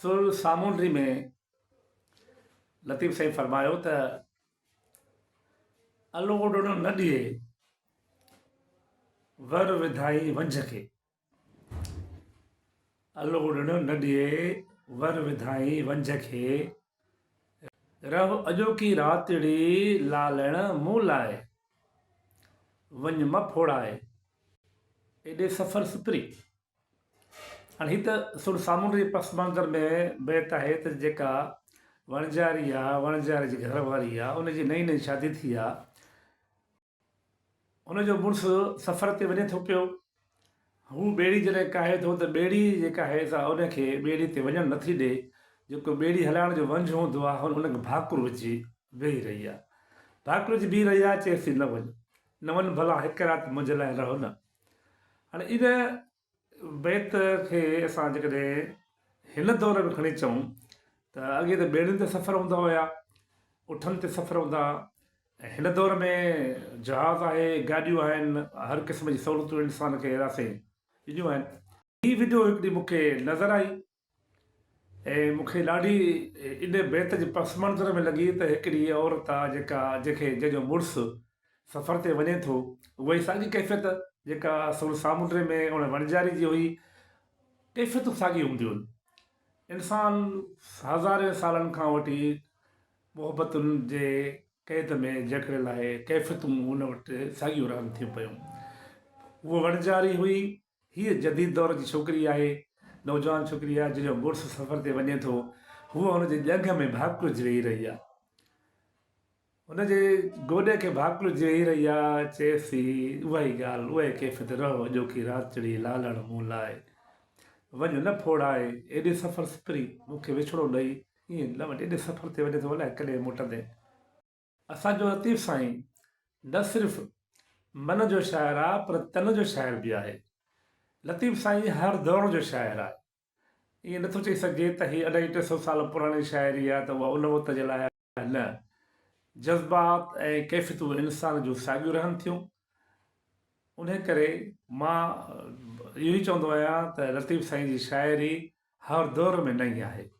سر سامونڊي ۾ لطيف سائين فرمايو ته الو اڏڻ نه ڏئي ور وڌائين ونجهه کي الو اڏڻ نه ڏئي ور وڌائين ونجهه کي رهه اڄوڪي راتڙي لالڻ مون لاء وڃ مه ڦوڙائي ايڏي سفر سپري هاڻي هي ته سر سامونڊي پس منظر ۾ بيت آهي ته جيڪا وڻجاري آ وڻجاري جي گهر واري آ ان جي نئين نئين شادي ٿي آ ان جو مڙس سفر تي وڃي ٿو پيو هو ٻيڙي جڏهن ڪاهي ٿو ته ٻيڙي جيڪا آهي سا ان کي ٻيڙي تي وڃڻ نه ٿي ڏي جيڪو ٻيڙي هلائڻ جو ونجهه هوندو آ هن ان کي ڀاڪر وجهي ويهي رهي آ ڀاڪر وجهي بيهي رهي آ چيس ٿي نه وڃ نه وڃ ڀلا هڪ رات منهنجي لاء رهه نه هاڻي ان بيت کي اسان جيڪڏهن هن دور ۾ کڻي چئون ته اڳي ته ٻيڙين تي سفر هوندا هيا، اٺن تي سفر هوندا هيا ۽ هن دور ۾ جهاز آهي، گاڏيون آهن، هر قسم جي سهولتون انسان کي راسي ڏنيون آهن. هي وڊيو هڪ ڏينهن مون کي نظر آئي ۽ مون کي ڏاڍي ان بيت جي پس منظر ۾ لڳي ته هڪڙي عورت آ جيڪا جنهنکي جنهن جو مڙس سفر تي وڃي ٿو اها ئي ساڳي ڪيفيت جيڪا سور سامونڊي ۾ ان وڻجاري جي هئي ڪيفيتون ساڳيون هونديون انسان هزارين سالن کان وٺي محبتن جي قيد ۾ جڪڙيل آهي ڪيفيتون هن وٽ ساڳيون رهن ٿيون پيون هوء وڻجاري هئي هيء جديد دور جي ڇوڪري آهي، نوجوان ڇوڪري آهي، جنهن جو مڙس سفر تي وڃي ٿو، هوء هن جي ڄنگهه ۾ ڀاڪلج ويهي رهي آهي. هن جي گوڏي کي ڀاڪلج ويهي رهي آهي، چيس ٿي، اها ئي ڳالهه، اها ئي ڪيفيت، رهو اڄوڪي رات چڙهي لالڻ مون لاء، وڃ نه ڦوڙائي، ايڏي سفر سپري، مون کي وڇڙو ڏئي، ائين لوڻ ايڏي سفر تي وڃي ٿو، الائي ڪڏهن موٽندين. اسان جو لطيف سائين نه صرف من جو شاعر آ پر تن جو شاعر به آهي. لطيف سائين هر دور جو شاعر آ. ائين نه ٿو چئي سگهجي ته هي اڍائي ٽي سو سال پراڻي شاعري آ ته اها ان وقت جي لاء آهي نه. جذبات ۽ ڪيفيتون انسان جون ساڳيون رهن ٿيون. انهي ڪري مان اهو ئي چوندو آهيان ته لطيف سائين جي شاعري هر دور ۾ نئين آهي.